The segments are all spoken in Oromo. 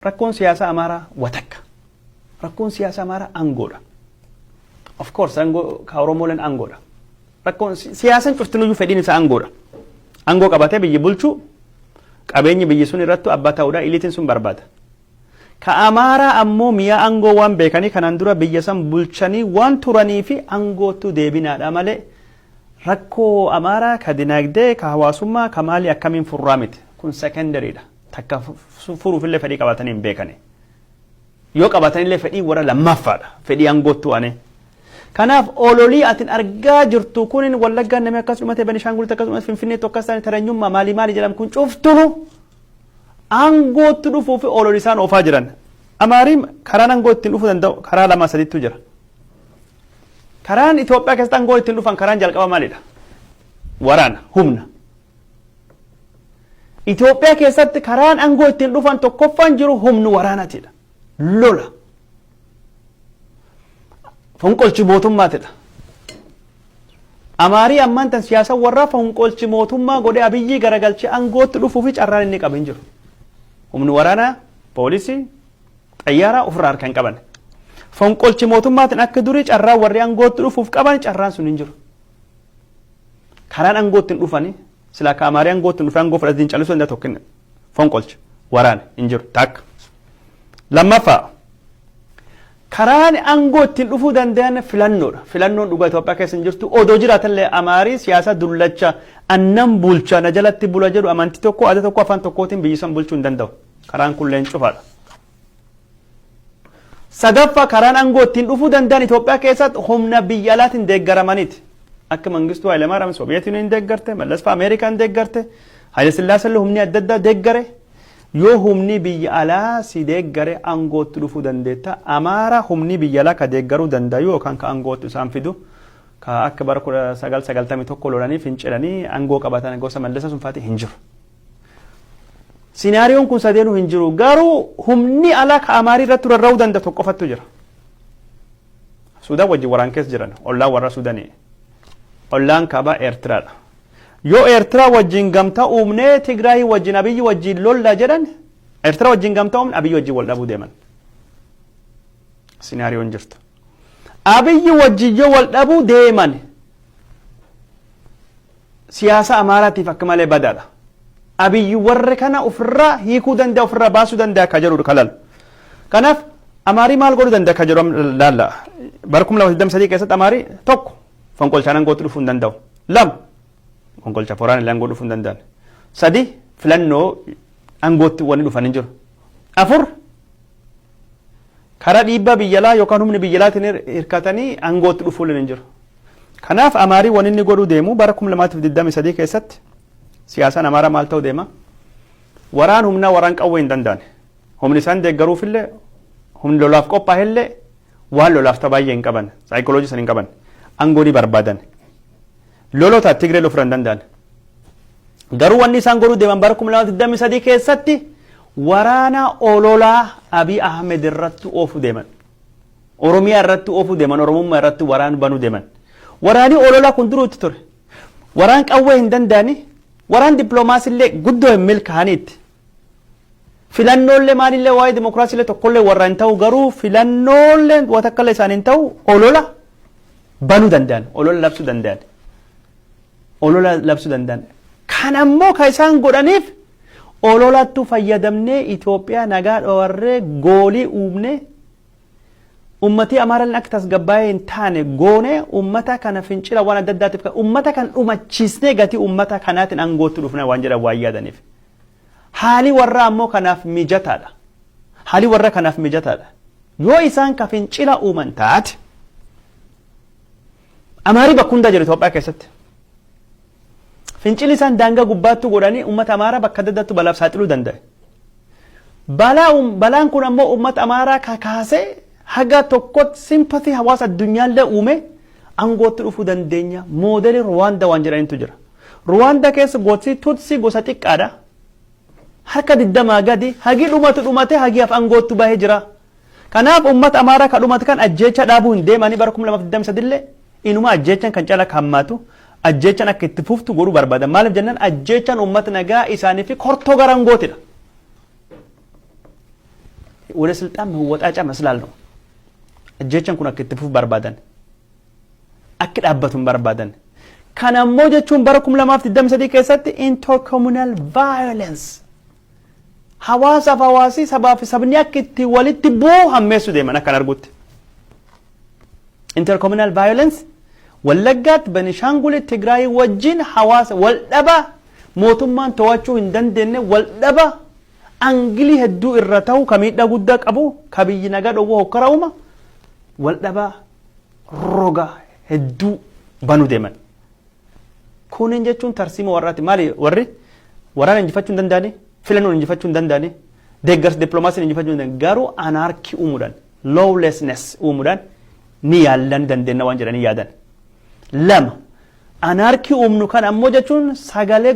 Rakkoon siyaasaa Amaaraa watakka. Rakkoon siyaasaa Amaaraa aangoodha. Of course aangoo ka Oromooleen aangoodha. Rakkoon si- siyaasaan cuftinuyyuu fedhiin isaa aangoodha. Aangoo qabatee biyyi bulchuu qabeenyi biyyi sun irrattu abbaa ta'uudha iliitiin sun barbaada. Ka Amaaraa ammoo mi'a aangoo waan beekanii kanaan dura biyya san bulchanii waan turanii fi aangootu deebinaadha malee rakkoo Amaaraa ka dinagdee ka hawaasummaa ka maalii akkamiin furraa miti. Kun secondaryidha. takka furuufillee fedhii qabaatanii hin beekane. Yoo qabaatanillee fedhii warra lammaaffaadha. Fedhii aangoottuu anee. Kanaaf ololii atin argaa jirtu kunin wallaggaan namni akkas dhumate Benishaangulitti akkas dhumate Finfinneetti akkas taane taranyummaa maalii maalii jedhamu kun cuftunu aangootti dhufuu fi ololii isaan oofaa jiran. Amaariin karaan aangoo ittiin dhufuu danda'u karaa lama sadiitu jira. Karaan Itoophiyaa keessatti aangoo ittiin dhufan karaan jalqaba maalidha? Waraana, humna. Itoophiyaa keessatti karaan aangoo ittiin dhufan tokkoffaan jiru humni waraanaatiidha. Lola. Fonqolchi mootummaatidha. Amaarii ammaan tan siyaasa warraa fonqolchi mootummaa godhee abiyyii garagalchee aangootti dhufuu fi carraan inni qabu hin jiru. Humni waraanaa, poolisii, xayyaaraa ofirraa harka hin qaban. Fonqolchi mootummaatiin akka durii carraa warri aangootti dhufuuf qaban carraan sun hin jiru. Karaan angoo ittiin dhufani silaa ka amaaree angoo ittiin dhufee angoo fudhatiin callisuu danda'a tokkin fonqolcha waraana hin jiru takka. Lammaffaa karaan angoo ittiin dhufuu danda'an filannoodha. Filannoon dhugaa Itoophiyaa keessa hin jirtu odoo jiraatallee amaarii siyaasa dullacha annan bulcha na jalatti bula jedhu amantii tokko aadaa tokko afaan tokkootiin biyyisan bulchuu hin danda'u. Karaan kunilleen cufaadha. Sadaffa karaan aangoo ittiin dhufuu danda'an Itoophiyaa keessatti humna biyya alaatiin deeggaramaniiti. Akka Mangistuu Hayilamaariyaam Sooviyeet Yuuniin deeggarte, Mallasfaa Ameerikaan deeggarte, Hayila Sillaasallee humni adda addaa deeggare. Yoo humni biyya alaa si deeggare aangootti dhufuu dandeetta. Amaara humni biyya alaa ka deeggaruu danda'u yookaan ka aangootti isaan fidu. Ka akka bara 1991 lolanii fincilanii aangoo qabatan gosa Mallasa sun fa'aati hin jiru. Sinaariyoon kun sadeenuu hin jiru. Garuu humni alaa ka Amaarii irratti rarra'uu danda'u tokko qofattu jira. Suudaan wajjin waraan keessa jiran ollaan warra Suudanii. Ollaan kaabaa Eertiraadha. Yoo Eertiraa wajjin gamtaa uumnee Tigraayii wajjin Abiyyi wajjin lolla jedhan Eertiraa wajjin gamtaa uumne Abiyyi wajjin wal dhabuu deeman. Sinaariyoon jirtu. Abiyyi wajjin yoo wal dhabuu deeman siyaasa Amaaraatiif akka malee badaadha. Abiy warra kana ofirraa hiikuu danda'a, ofirraa baasuu danda'a akka jedhudha kan laalu. Kanaaf Amaarii maal godhuu danda'a akka jedhu laalla. Bara 2023 keessatti Amaarii tokko fonqolchaan aangootti dhufuu hin danda'u. Lama fonqolcha foraan illee aangoo dhufuu hin danda'an. Sadi filannoo aangootti wanni dhufan hin jiru. Afur Karaa dhiibbaa biyya alaa yookaan humni biyya alaatiin hir- hirkatanii aangootti dhufuulleen hin jiru. Kanaaf Amaariin wanni inni godhuu deemu bara 2023 keessatti siyaasaan Amaaraa maal ta'uu deema? Waraan humnaa waraan qawwee hin danda'an. Humni isaan deeggaruufillee humni lolaaf qophaa'ellee waan lolaaf ta'u baay'ee hin qaban. Saayikooloojii san hin qaban. Aangoo ni barbaadan. Lolota Tigree loluu hin danda'an. Garuu wanni isaan godhuu deeman bara 2023 keessatti Waraana ololaa Abiy Ahmed irratti oofu deman. Oromiyaa irratti oofu deman, Oromummaa irratti waraan banu deman. Waraani ololaa kun duruu itti ture. Waraan qawwee hin danda'ani, waraan diploomaasii illee guddoo hin milkaa'ani itti. Filannoollee maalillee waa'ee dimokiraasii illee tokkollee warra hin ta'u garuu filannoollee watakkallee isaan hin ta'u olola banu danda'an, olola labsu danda'an. olola labsuu danda'an. Kan ammoo kan isaan godhaniif ololattu fayyadamnee Itoophiyaa nagaa dhowarree goolii uumnee ummatii Amaaralleen akka tasgabbaa'ee hin taane goonee ummata kana fincila waan adda addaatiif kan ummata kan dhumachiisnee gatii ummata kanaatiin aangootti dhufna waan jedhan waan yaadaniif. Haalii warraa ammoo kanaaf mijataadha. Haalii warra kanaaf mijataadha. Yoo isaan ka fincila uuman taate Amaarii bakka hundaa jiru Itoophiyaa keessatti. Fincilli isaan daangaa gubbaattuu godhanii uummata Amaaraa bakka adda addaatti balaaf saaxiluu danda'e. Balaa uum- balaan kun ammoo uummata Amaaraa kakaasee haga tokkotti simpatii hawaasa addunyaallee uume aangootti dhufuu dandeenya. Moodelii Ruwaandaa waan jedhanitu jira. Ruwaandaa keessa gosi Tutsi gosa xiqqaadha. Harka digdamaa gadi hagi dhumatu dhumatee hagi af aangoottu bahee jira. Kanaaf ummata Amaaraa ka dhumate kan ajjeechaa dhaabuu hin deemanii bara 2023 illee inumaa ajjeechaan kan caala akka hammaatu ajjeechaan akka itti fuftu godhuu barbaadan maaliif jennaan ajjeechaan ummata nagaa isaanii fi kortoo garangootidha. Wale silxaan mawwaxaa cama silaalnu ajjeechaan kun akka itti fufu barbaadan akki dhaabbatu hin barbaadan. Kan ammoo jechuun bara 2023 keessatti intercommunal violence hawaasaaf hawaasii sabaa fi sabni akka itti walitti bu'u hammeessu deeman akkan argutti. Intercommunal violence Wallaggaatti Benishaanguli Tigraayii wajjin hawaasa wal dhaba mootummaan to'achuu hin dandeenye wal dhaba angilii hedduu irra ta'u ka miidhaa guddaa qabu ka biyyi nagaa dhowwaa hokkara uuma wal dhaba roga hedduu banu deeman. Kunin jechuun tarsiima warraati. Maali warri waraana injifachuu hin danda'ani, filannoon injifachuu hin danda'ani, deeggarsa dippiloomaasiin injifachuu hin danda'ani. Garuu anaarkii uumuudhaan, lawlessness uumuudhaan ni yaalla ni dandeenya waan jedhanii yaadan. Lama anaarkii uumnu kan ammoo jechuun sagalee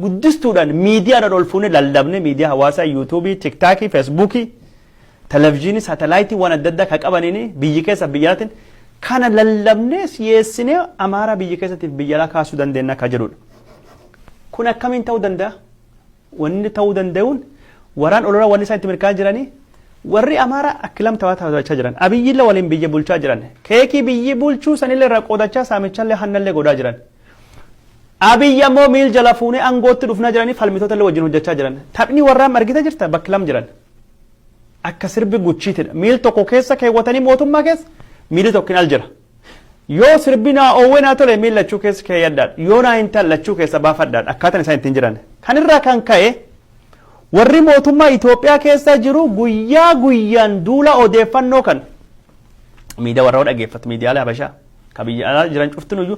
guddistuudhaan miidiyaadhaan ol fuunee lallabne miidiyaa hawaasaa yuutuubii, tiktaakii, feesbuukii Televizhiinii saatalaayitiiwwan adda addaa kan qabaniin biyyi keessaaf biyya alaatiin kana lallabnee siyeessinee Amaaraa biyya keessatiif biyya alaa kaasuu dandeenya akka jedhudha. Kun akkamiin ta'uu danda'a? Wanni ta'uu danda'uun waraan olola wanni isaan itti mirkaa jiranii warri Amaaraa akkilam ta'aa taphachaa jiran. Abiyyillee waliin biyya bulchaa jiran. Keekii biyyi bulchuu sanillee irraa qoodachaa saamichallee hannallee godhaa jiran. Abiyyi ammoo miil jala fuunee aangootti dhufnaa jiranii falmitoota illee wajjin hojjechaa jiran. Taphni warraa argita jirta bakki lam jiran. Akka sirbi guchiitidha. Miil tokko keessa keewwatanii mootummaa keessa miilli tokkin al jira. Yoo sirbi naa oowwee naa tole miil lachuu keessa keeyyadhaadha. Yoo naa hin talle lachuu keessa baafadhaadha. Akkaataan isaan ittiin jiran. Kan irraa kan ka'e warri mootummaa Itoophiyaa keessa jiru guyyaa guyyaan duula odeeffannoo kan miidiyaa warra dhageeffatu miidiyaalee Habashaa kan biyya alaa jiran cuftinuyyuu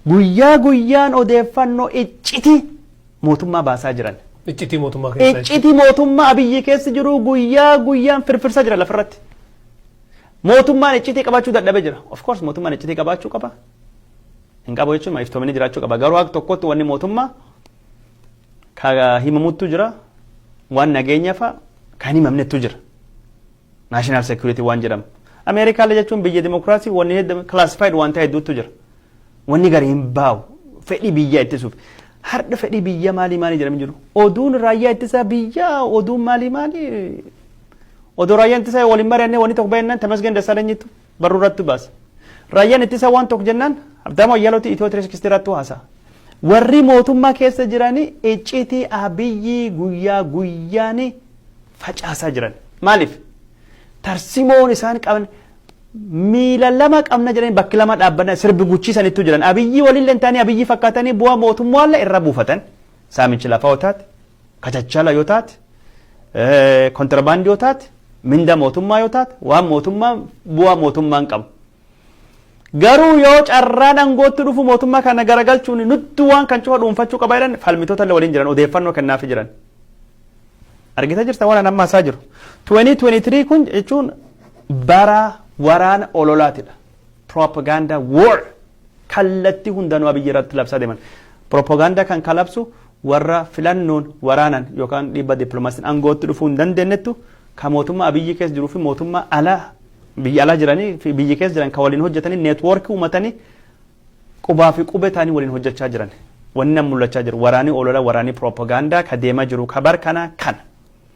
guyyaa guyyaan odeeffannoo iccitii mootummaa baasaa jiran. Iccitii mootummaa keessaa jechuudha. Iccitii mootummaa Abiyyi keessa jiru guyyaa guyyaan firfirsaa jira lafarratti. Mootummaan iccitii qabaachuu dadhabe jira. Of course mootummaan iccitii qabaachuu qaba. Hin qabu jechuun iftoomini jiraachuu qaba. Garuu akka tokkotti wanni mootummaa ka himamuttu jira. Waan nageenyaa fa'a kan himamnettu jira. National security waan jedhamu. Ameerikaallee jechuun biyya dimokiraasii wanni hedda classified waan ta'e hedduutu jira. Wanni gari hin baa'u. Fedhii biyya ittisuuf. Har'a fedhii biyya maalii maalii jedhamu jiru. Oduun raayyaa ittisaa biyya oduun maalii maalii. Odoo raayyaan ittisaa waliin mari'annee wanni tokko baay'inaan tamasgeen dassaalanyiitu. barruu irratti baase. Raayyaan ittisaa waan tokko jennaan Habtaamuu Ayyaalootii Itiyoo Tiriskistii irratti haasa'a. Warri mootummaa keessa jiranii iccitii abiyyii guyyaa guyyaan facaasaa jiran. Maaliif? Tarsimoon isaan qaban miila lama qabna jedhanii bakki lama dhaabbanna sirbi guchiisanittu jiran. Abiyyii waliin lentaanii abiyyii fakkaatanii bu'aa mootummaallee irra buufatan. Saamichi lafaa otaati. kachachala yoo taate, kontirabaandii yoo taate, mindaa mootummaa yoo taate, waan mootummaa bu'aa mootummaan qabu. Garuu yoo carraan aangootti dhufu mootummaa kana garagalchuun nutti waan kan cufa dhuunfachuu qaba jedhan falmitoota illee waliin jiran odeeffannoo kennaafii jiran. Argita jirta waan amma hasaa jiru. 2023 kun jechuun bara waraana ololaatidha. Propaganda war kallattii hundanuu abiyyi irratti labsaa deeman. Propaganda kan kalabsu warra filannoon, waraanan yookaan dhiibbaa diplomaasiin angootti dhufuu hin dandeennettu ka mootummaa Abiyyi keessa jiruu fi mootummaa ala biyya alaa jiranii fi biyya keessa jiran ka waliin hojjetanii neetwoorkii uumatanii qubaa fi qubee ta'anii waliin hojjechaa jiran. Wanni nam mul'achaa jiru waraanii olola waraanii piroopagaandaa ka deemaa jiru ka bar kana kana.